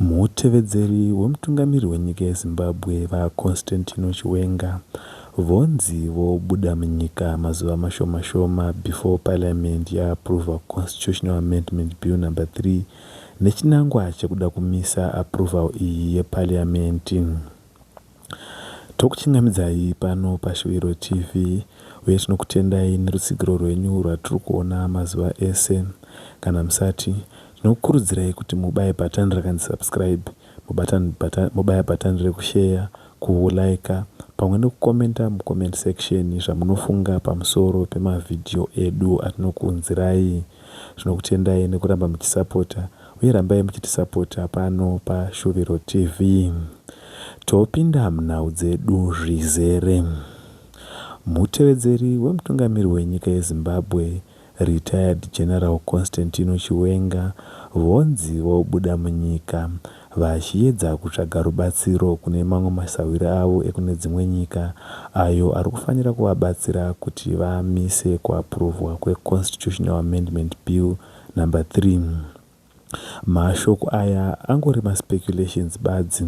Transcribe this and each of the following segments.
Mutevedzeri wemutungamiri wenyika yeZimbabwe, VaConstantino Chiwenga, vonzi vobuda munyika mazuva mashoma shoma before parliament ya approver Constitutional Amendment Bill number 3 nechinangwa chekuda kumisa approval iyi yeparliament. Tokuchingamidzai pano paShuviro TV uye tinokutendai nerutsigiro rwenyu rwatiri kuona mazuva ese. Kana musati, tinokukurudzirai kuti mubaye bhatani rakanzi subscribe, mubatani bhatani, mobaya bhatani rekusheya, kuhulaika pamwe nekukomenta mucomment section zvamunofunga pamusoro pemavhidhiyo edu atinokuunzirai. Tinokutendai nekuramba muchisapota. uye rambai muchitisapota pano pa Shuviro TV. Topinda munhau dzedu zvizere. Mutevedzeri wemutungamiri wenyika yeZimbabwe, Retired General Constantino Chiwenga, vonzi vobuda munyika vachiedza kutsvaga rubatsiro kune mamwe masahwira avo ekune dzimwe nyika ayo ari kufanira kuvabatsira kuti vamise kuapuruvhwa kweConstitutional Amendment Bill Number three, mashoko aya angori maspeculations badzi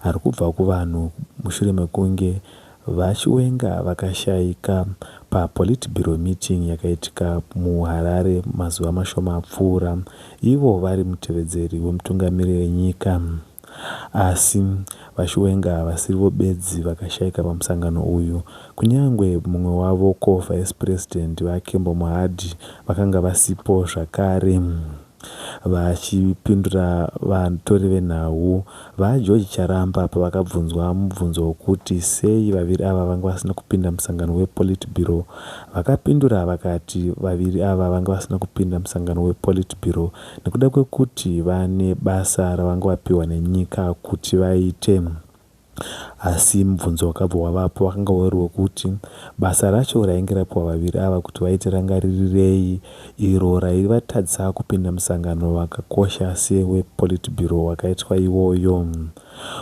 ari kubva kuvanhu mushure mekunge VaChiwenga vakashaika paPolitburo meeting yakaitika muHarare mazuva mashoma apfuura, ivo vari mutevedzeri wemutungamiri wenyika. Asi VaChiwenga havasivo bedzi vakashaika pamusangano uyu. Kunyangwe mumwe wavo, co-vice president, VaKembo Mohadi, vakanga vasipo zvakare. Vachipindura vatori venhau, VaGeorge Charamba, pavakabvunzwa mubvunzo wokuti sei vaviri ava vanga vasina kupinda musangano wePolitburo, vakapindura vakati vaviri ava vanga vasina kupinda musangano wePolitburo nekuda kwekuti vane basa ravanga vapiwa nenyika kuti vaite asi mubvunzo wakabva wavapo wakanga uri wekuti basa racho rainge rapiwa vaviri ava kuti vaite rangaririrei iro raivatadzisa kupinda musangano wakakosha sewepolitburo wakaitwa iwoyo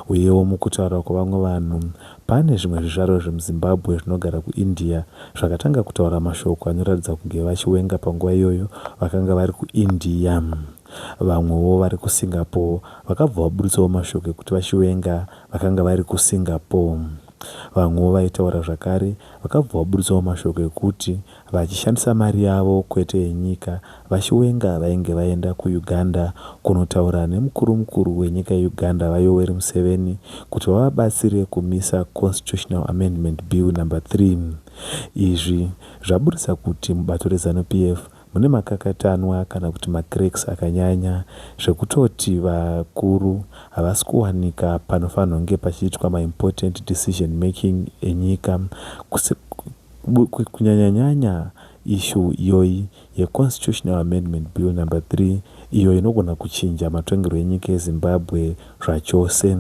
uyewo mukutaura kwevamwe vanhu Pane zvimwe zvizvarwa zvemuZimbabwe zvinogara kuIndia zvakatanga kutaura mashoko anoratidza kunge vaChiwenga panguva iyoyo vakanga vari kuIndia. Vamwewo vari kuSingapore vakabva vabuditsawo mashoko ekuti vaChiwenga vakanga vari kuSingapore. Vamwewo vaitaura zvakare vakabva vabuditsawo mashoko ekuti vachishandisa mari yavo kwete yenyika vaChiwenga vainge vaenda kuUganda kunotaura nemukuru mukuru wenyika yeUganda VaYoweri Museveni kuti vavabatsire kumisa Constitutional Amendment Bill number 3 izvi zvaburitsa kuti mubato reZanu PF mune makakatanwa kana kuti macracks akanyanya zvekutoti vakuru havasi kuwanika panofanhonge pachiitwa maimportant decision making enyika kunyanyanyanya issue iyoyi ye Constitutional Amendment Bill number 3 iyo inogona kuchinja matongerwo enyika yeZimbabwe zvachose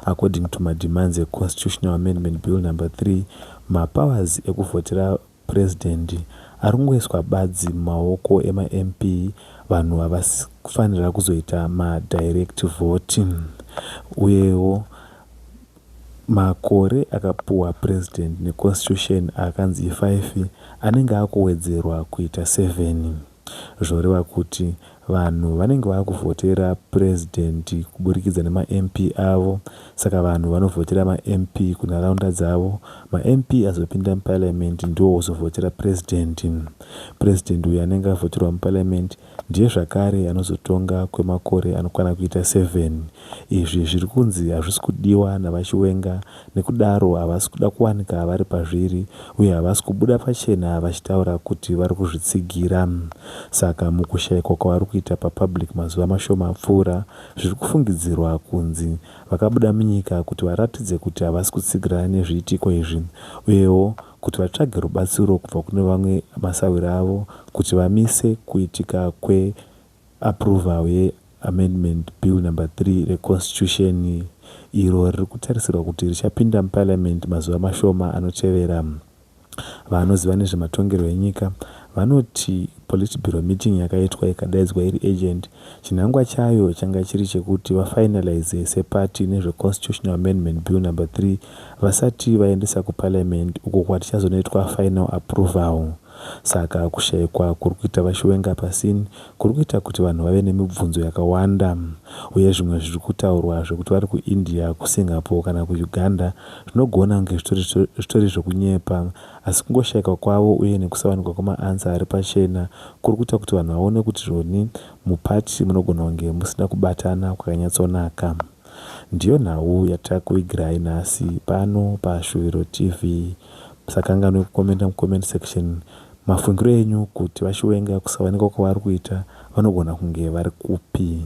according to ma demands e Constitutional Amendment Bill number 3 ma powers ekuvhotera President ari kungoiswa badzi mumaoko ema MP vanhu havasi kufanira kuzoita ma direct vote uyewo Makore akapuwa President neConstitution akanzi five anenge akuwedzerwa kuita seven zvoreva kuti vanhu vanenge vakuvhotera President kuburikidza nemaMP avo saka vanhu vanovhotera maMP kunharaunda dzavo maMP azopinda muParliament ndiwo ozovhotera President. President uyo anenge avhoterwa muParliament Ndiye zvakare anozotonga kwemakore anokwana kuita 7. Izvi zviri kunzi hazvisi kudiwa naVaChiwenga nekudaro havasi kuda kuwanika vari pazviri uye havasi kubuda pachena vachitaura kuti vari kuzvitsigira. Saka mukushaikwa kwavari kuita papublic mazuva mashoma apfuura, zviri kufungidzirwa kunzi vakabuda munyika kuti varatidze kuti havasi kutsigirana nezviitiko izvi uyewo kuti vatsvage rubatsiro kubva kune vamwe masahwira avo kuti vamise kuitika kwe approval ye Amendment Bill Number 3 re Constitution iro riri kutarisirwa kuti richapinda muParliament mazuva mashoma anotevera. Vanoziva nezvematongerwo enyika vanoti Politburo meeting yakaitwa ikadaidzwa iri urgent Chinangwa chayo changa chiri chekuti va finaliser se party nezve Constitutional Amendment Bill Number 3 vasati vaendesa ku Parliament uko kwatichazonoitwa final approval. Saka kushaikwa kuri kuita va Chiwenga pa scene kuri kuita kuti vanhu vave nemibvunzo yakawanda. Uye zvimwe zviri kutaurwa zvekuti vari ku India, ku Singapore kana ku Uganda zvinogona kunge zvitori zvitori zvekunyepa Asi kungoshaikwa kwavo uye nekusawanikwa kwemaAnswer ari pachena kuri kuita kuti vanhu vaone kuti zvoni muParty munogona kunge musina kubatana kwakanyatsonaka. Ndiyo nhau yatakuvigirai nhasi pano paShuviro TV. Musakanganwe kukomenta muComment Section mafungiro enyu kuti VaChiwenga kusawanikwa kwavari kuita vanogona kunge vari kupi.